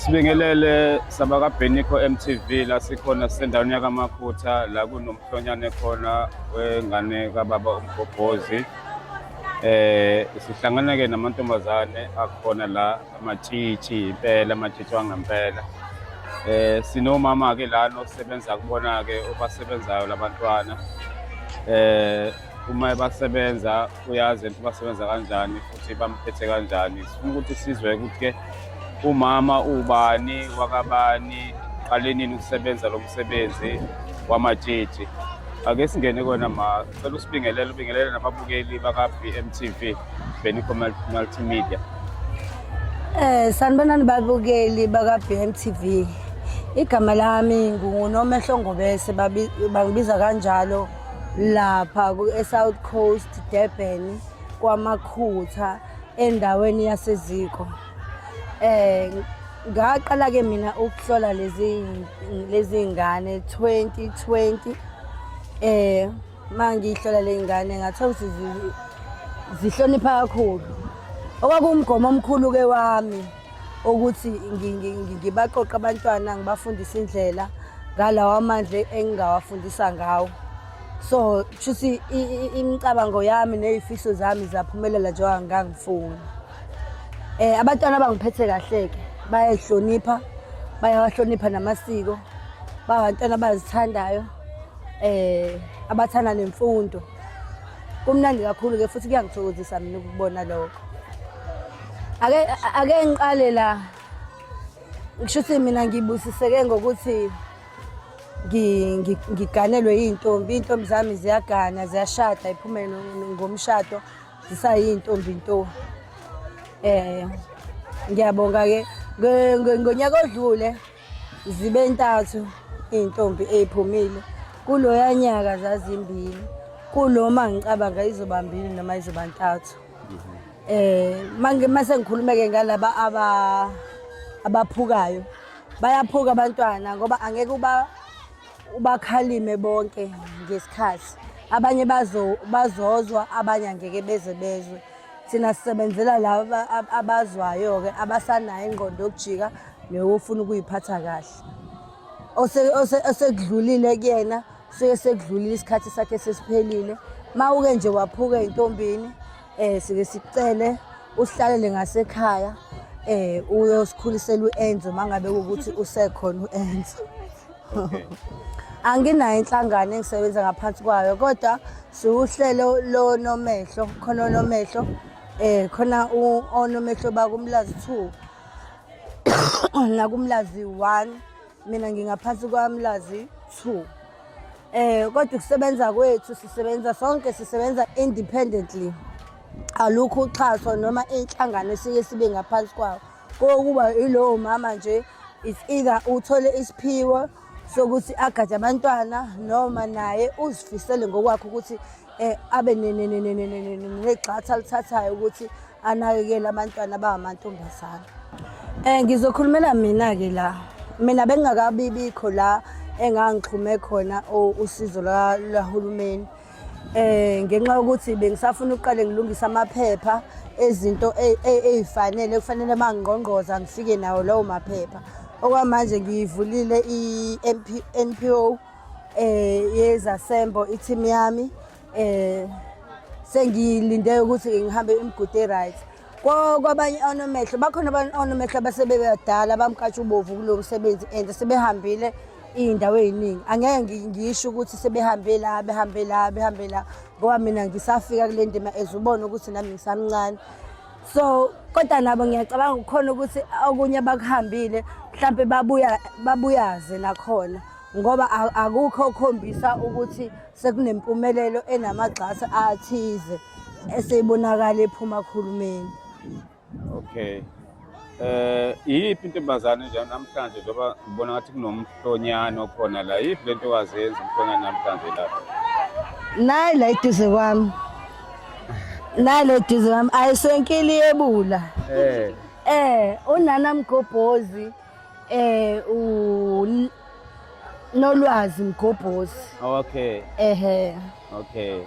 Sibingelele sabakabheniko MTV la sikhona sisendaweni yakamaphutha la kunomhlonyane khona wengane kababa umgobhozi eh sihlangana ke namantombazane akhona la amatshitshi impela amatshitshi wangempela eh sinomama-ke lana osebenza kubona-ke obasebenzayo labantwana eh uma ebasebenza uyazi ukuthi basebenza kanjani futhi bamphethe kanjani sifuna ukuthi sizwe ukuthi-ke umama ubani wakabani qale nini ukusebenza lo msebenzi wamatshitshi ake singene kona ma Cela usibingelele ubingelele nababukeli baka-BMTV Benico Multimedia. Eh sanibonani babukeli baka-BMTV. Igama lami nguNomehlo Ngobese bangibiza kanjalo lapha ku-South Coast Durban kwaMakhutha endaweni yaseziko. Eh ngaqala ke mina ukuhlola lezi lezi ngane 2020 eh mangihlola le ngane ngathola ukuthi zihlonipha kakhulu okwakuwumgomo omkhulu ke wami ukuthi ngibaqoqa abantwana ngibafundise indlela ngalawa amandla engingawafundisa ngawo so shuthi imicabango yami nezifiso zami zaphumelela njengoba ngangifuna Eh abantwana bangiphethe kahle ke bayahlonipha bayawahlonipha namasiko bangantwana abazithandayo eh abathanda nemfundo kumnandi kakhulu ke futhi kuyangithokozisa mina ukubona lokho ake ake ngiqale la ngisho ukuthi mina ngibusiseke ngokuthi ngiganelwe iy'ntombi iy'ntombi zami ziyagana ziyashada iphumele ngomshado zisayintombi nto eh ngiyabonga ke ngonyaka odlule zibe ntathu iy'ntombi ey'phumile kuloya nyaka zazimbili kuloma ngicabanga izoba mbili noma izoba ntathu eh manje mase ngikhulumeke ngalaba aba abaphukayo bayaphuka abantwana ngoba angeke uba ubakhalime bonke ngesikhathi abanye bazozwa abanye angeke beze bezwe thina sisebenzela laba abazwayo-ke abasanayo ingqondo yokujika neyofuna ukuyiphatha kahle osekudlulile kuyena suke sekudlulile isikhathi sakhe sesiphelile ma uke nje waphuka ey'ntombini Eh sike sicele uhlalele ngasekhaya eh uyosikhulisela uEnzo mangabe ukuthi usekhona uEnzo. Okay. anginayo inhlangano engisebenza ngaphansi kwayo kodwa siwuhlelo lonomehlo khona onomehlo eh khona onomehlo bakumlazi 2 nakumlazi 1 mina ngingaphansi kwamlazi two eh kodwa ukusebenza kwethu sisebenza sonke sisebenza independently alukho uxhaso noma inhlangano esike sibe ngaphansi kwawo kokuba ilowo mama nje is either uthole isiphiwo sokuthi agade abantwana noma naye uzifisele ngokwakhe ukuthi eh abe negxatha alithathayo ukuthi anakekele abantwana abangamantombazana eh ngizokhulumela mina ke la mina bengingakabi bikho la engangixhume khona usizo lwahulumeni eh ngenxa yokuthi bengisafuna ukuqale ngilungisa amaphepha ezinto ezifanele kufanele mangqongqoza ngifike nawo lawo maphepha okwamanje ngiyivulile i-NPO eh yezasembo i-team yami eh sengilinde ukuthi ngihambe imigude right kwabanye onomehlo bakhona abanye onomehlo abasebebadala bamkatsha ubovu kulo msebenzi and sebehambile iy'ndawo ey'ningi angeke ngisho ukuthi sebehambe la behambe la behambe la ngoba mina ngisafika kule ndima as ubona ukuthi nami ngisamncane so kodwa nabo ngiyacabanga kukhona ukuthi okunye abakuhambile mhlawumpe babuya babuyaze nakhona ngoba akukho okukhombisa ukuthi sekunempumelelo enamagxasi athize eseyibonakala ephuma khulumeni okay eh iyiphi intombazane nje namhlanje njengoba ngibona ngathi kunomhlonyana okhona la yiphi lento wazenza umhlonyana namhlanje la nayi la iduze kwami nayi la iduze kwami ayisenkili yebula eh eh unana mgobhozi eh u nolwazi mgobhozi okay ehe okay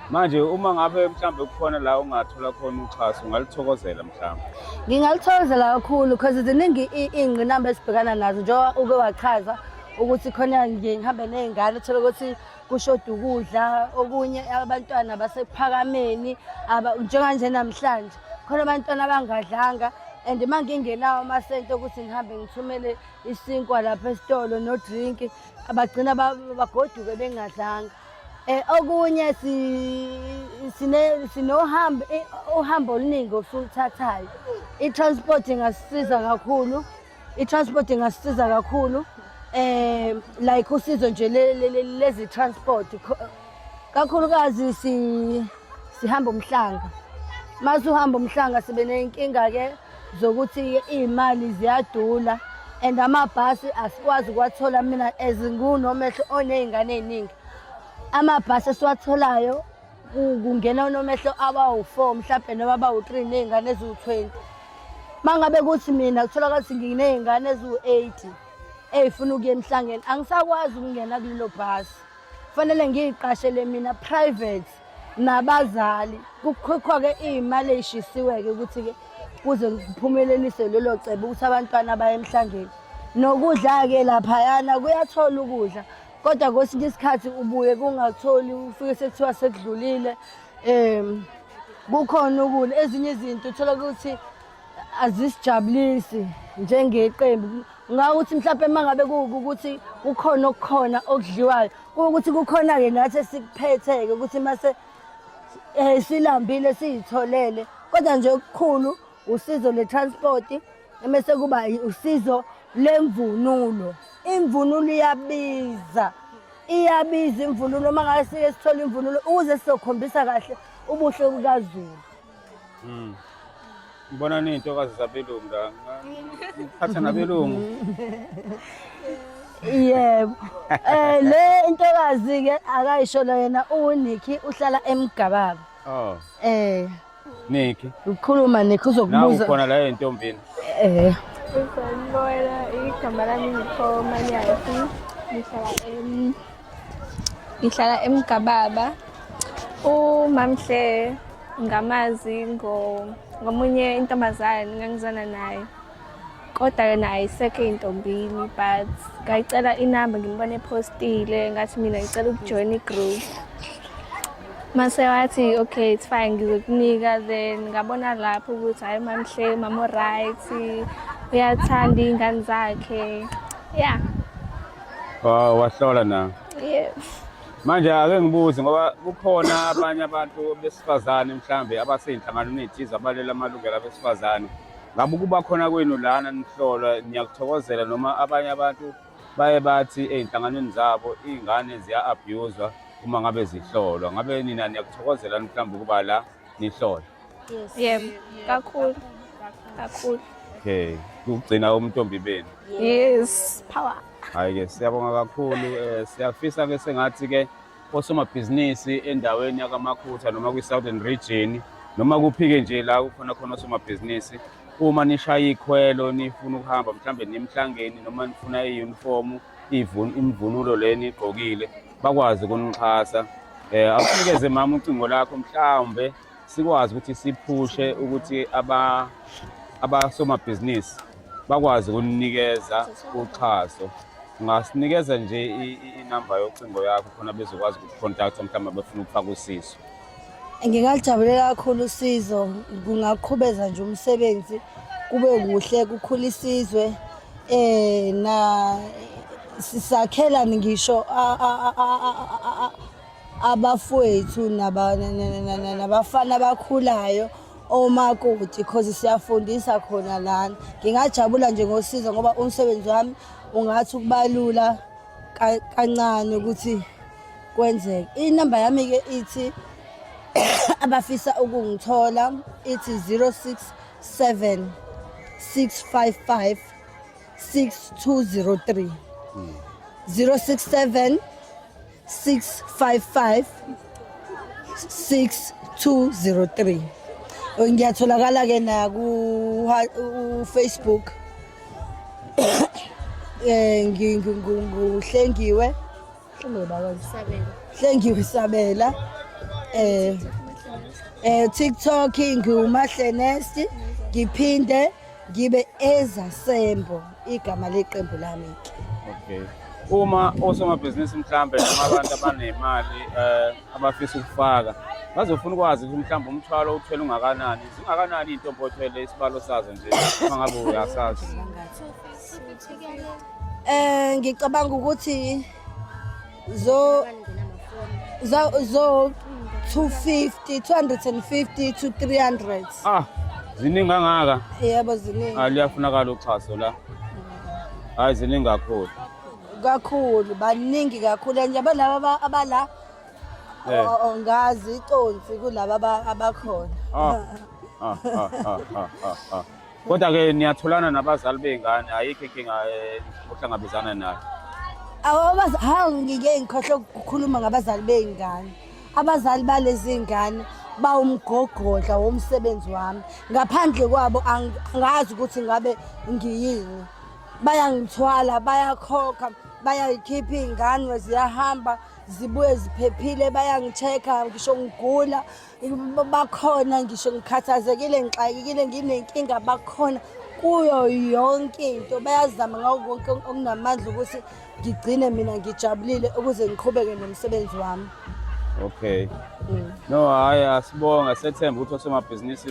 manje uma ngabe mhlambe kukhona la ungathola khona uxhaso ungalithokozela mhlambe ngingalithokozela kakhulu because ziningi iy'ngqinamba esibhekana nazo njengoba uke wachaza ukuthi khona ngihambe ney'ngane uthole ukuthi kushoda ukudla okunye abantwana basephakameni njenganje namhlanje khona abantwana abangadlanga and uma ngingenawo amasente okuthi ngihambe ngithumele isinkwa lapha esitolo no-drink abagcina bagoduke bengadlanga Eh okunye si sine sinohambo uhambo oluningi osuluthathayo. I transport ingasisiza kakhulu I-transport ingasisiza kakhulu eh like usizo nje lezi transport kakhulukazi si sihamba umhlanga mase uhamba umhlanga sibe nenkinga ke zokuthi iy'mali ziyadula and amabhasi asikwazi ukuwathola mina as ngiwunomehlo oney'ngane ey'ningi amabhasi esiwatholayo kungena unomehlo abawu-four mhlawumbe noma abawu-three ney'ngane eziwu-twenty uma ngabe kuthi mina kutholakala ukuthi nginey'ngane eziwu-eighty ey'funa ukuya emhlangeni angisakwazi ukungena kulelo bhasi kufanele ngiyiqashele mina private nabazali kukhokhwa-ke iy'mali ey'shisiwe-ke ukuthi-ke kuze kuphumeleliswe lelo cebo ukuthi abantwana baye emhlangeni nokudla-ke laphayana kuyathola ukudla kodwa kwesinye isikhathi ubuye kungatholi ufike sekuthiwa sekudlulile um kukhona ukula ezinye izinto uthola ukuthi azisijabulisi njengeqembu ngawuthi mhlawumbe uma ngabe kuwukuthi kukhona okukhona okudliwayo kuwukuthi kukhona-ke nathi esikuphethe-ke ukuthi mase um silambile siyitholele kodwa nje okukhulu usizo le-transport Emese kuba usizo lemvunulo. Imvunulo iyabiza. Iyabiza imvunulo uma ngabe sike sithola imvunulo ukuze sizokhombisa kahle ubuhle kukaZulu. Mm. Ngibona ney'ntokazi zabelungu la. Ngiphatha nabelungu. Yebo. Eh le intokazi ke akayisho yena uNicky uhlala eMgababa. Oh. Eh. Niki. Ukhuluma Niki uzokubuza. Nawu khona la entombini. Eh. Usanibona igama lami ngikho Manyasi. Ngihlala em Ngihlala eMgababa. UMamhle ngamazi ngo ngomunye intombazane ngangizana naye. kodwa yona ayisekho intombini but ngayicela inamba ngimbone postile ngathi mina ngicela ukujoyina igroup mase wathi okay it's fine ngizokunika then ngabona lapho ukuthi hayi mamhle mamo right uyathanda iy'ngane zakhe ya wow wahlola na yes manje ake ngibuze ngoba kukhona abanye abantu besifazane mhlambe abaseyinhlanganweni ethize abalela amalungelo abesifazane Ngabe ukuba khona kwenu lana nihlolwa niyakuthokozela noma abanye abantu baye bathi ezinhlanganweni zabo izingane ziya-abuswa uma ngabe zihlolwa. Ngabe nina niyakuthokozela mhlawumbe ukuba la nihlolwa? Yes. Yebo, kakhulu. Kakhulu. Okay. Ukugcina umntombi benu. Yes, power. Hayi ke siyabonga kakhulu. Eh siyafisa ke sengathi ke osomabhizinisi endaweni yakamakhutha noma kwi-southern region noma kuphike nje la kukhona khona osomabhizinisi uma nishaya ikhwelo nifuna ukuhamba mhlawumbe nimhlangeni noma nifuna iyunifomu imvunulo le nigqokile bakwazi ukunixhasa um awunikeze mama ucingo lakho mhlawumbe sikwazi ukuthi siphushe ukuthi abasomabhizinisi bakwazi ukunikeza uxhaso ungasinikeza nje inamba yocingo yakho khona bezokwazi ukukucontacta mhlawumbe befuna ukufaka usizo ngingalijabulela kakhulu usizo kungaqhubeza nje umsebenzi kube kuhle kukhula isizwe um na sisakhelani ngisho abafowethu nabafana abakhulayo omakoti cause siyafundisa khona lana ngingajabula nje ngosiza ngoba umsebenzi wami ungathi ukubalula kancane ukuthi kwenzeke inamba yami-ke ithi abafisa ukungithola ithi 067 655 6203 067 655 6203 ngiyatholakala ke na ku Facebook eh ngihlengiwe hlengiwe sabela eh eh TikTok ngiwumahle nasty ngiphinde Ngibe ezasembo igama leqembu lami ke. Okay. Uma osomabhizinisi mhlambe noma abantu abanemali eh abafisa ukufaka bazofuna ukwazi ukuthi mhlawumbe umthwalo uthwele ungakanani zingakanani iy'ntombi othwele isibalo sazo nje uma ngabe uyasazi um ngicabanga ukuthi zo za zo 250 250 to 300 ah ziningi kangaka yebo ziningi ah liyafunakala uxhaso la hayi ziningi kakhulu kakhulu baningi kakhulu and yabo laba abala Eh. o- o- ngazi iconsi kulaba aba- abakhona ah ah ah ah ah ah, ah Kodwa-ke niyatholana nabazali bey'ngane, ayikho inkinga eh, ohlangabezana nayo. Awabazi hawu ngike ngikhohle ukukhuluma ngabazali bey'ngane. Abazali balezi ngane bawumgogodla womsebenzi wami. Ngaphandle kwabo ang- angazi ukuthi ngabe ngiyini. Bayangithwala, bayakhokha, bayayikhipha iy'ngane ziyahamba zibuye ziphephile, bayangi-check-a ngisho ngigula. bakhona ngisho ngikhathazekile ngixakekile nginenkinga bakhona kuyo yonke into bayazama ngawo konke okunamandla ukuthi ngigcine mina ngijabulile ukuze ngiqhubeke nomsebenzi wami okay mm. no hhayi asibonga sethemba ukuthi osomabhizinisi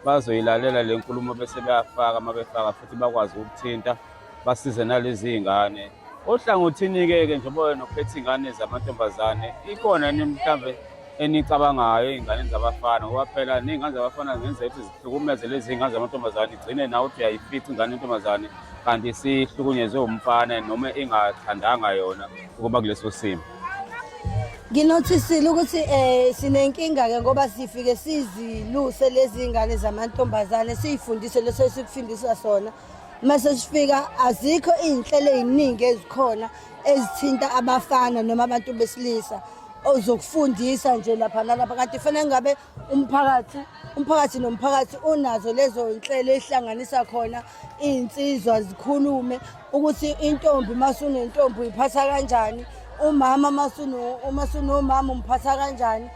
bazoyilalela le nkulumo bese beyafaka uma befaka futhi bakwazi ukuthinta basize nalezi iy'ngane ohlangothini-ke ke njengoba wena uphethe iy'ngane zamantombazane ikhona ni mhlawumbe enicabangayo iy'ngane zabafana ngoba phela ney'ngane zabafana zingenzeka ukuthi zihlukumeze lezi iy'ngane zamantombazane igcine nawe ukuthi uyayifica ingane yentombazane kanti sihlukunyezwe umfana noma ingathandanga yona ukuba kuleso simo nginothisile ukuthi um sinenkinga-ke ngoba sifike siziluse lezi ngane zamantombazane siyifundise leso esikufundisa sona uma sesifika azikho iy'nhlelo ey'ningi ezikhona ezithinta abafana noma abantu besilisa ozokufundisa nje lapha nalapha kanti fanele ngabe umphakathi umphakathi nomphakathi unazo lezo nhlelo ehlanganisa khona iy'nsizwa zikhulume ukuthi intombi masunentombi uyiphatha kanjani umama masunomama umphatha kanjani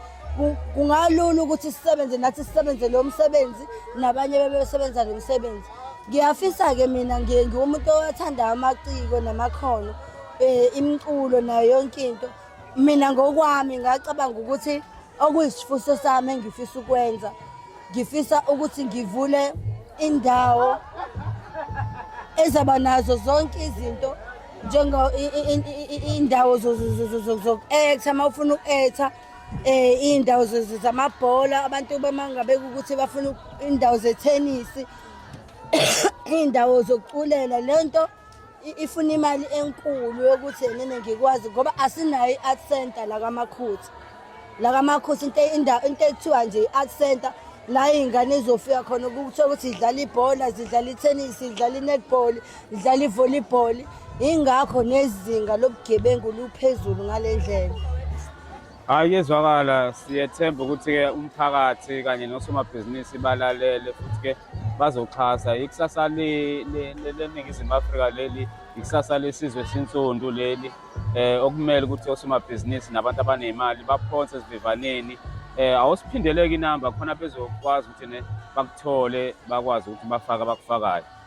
kungalula ukuthi sisebenze nathi sisebenze lo msebenzi nabanye bebesebenza lo msebenzi ngiyafisa-ke mina ngiye ngiwumuntu owathanda amaciko namakhono um imiculo nayo yonke into mina ngokwami ngacabanga ukuthi okuyisifuso sami engifisa ukwenza ngifisa ukuthi ngivule indawo ezaba nazo zonke izinto njengo indawo zoku-etha uma ufuna uku-etha eh indawo zamabhola abantu bamanga bekukuthi bafuna indawo zetennis indawo zokuculela lento ifuna imali enkulu yokuthi yena ngikwazi ngoba asinayo i-art center la kamakhuthi la kamakhuthi into indawo into ekuthiwa nje i-art center la ingane izofika khona ukuthola ukuthi idlala ibhola zidlala i-tennis idlala i-netball idlala ivolleyball ingakho nezinga lobugebengu luphezulu ngale ndlela hayi kuyezwakala siyethemba ukuthi-ke umphakathi kanye nosomabhizinisi balalele futhi-ke bazoxhasa ikusasa leningizimu afrika leli ikusasa lesizwe sinsundu leli eh okumele ukuthi osomabhizinisi nabantu abanemali baphonse esivivaneni eh awusiphindeleki inamba khona bezokwazi ukuthi ne bakuthole bakwazi ukuthi bafaka bakufakayo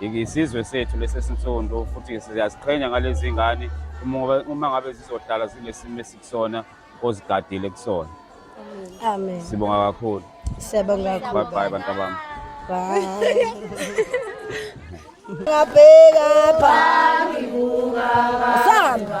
Isizwe sethu lesesinsundu futhi siyaziqhenya ngalezi ngane uma ngabe zizohlala zilesimo esikusona ozigadile kusona. Amen. Sibonga kakhulu. Siyabonga kakhulu. Bye bye bantu bami. Bye. Ngabheka phambi kuka. Samba.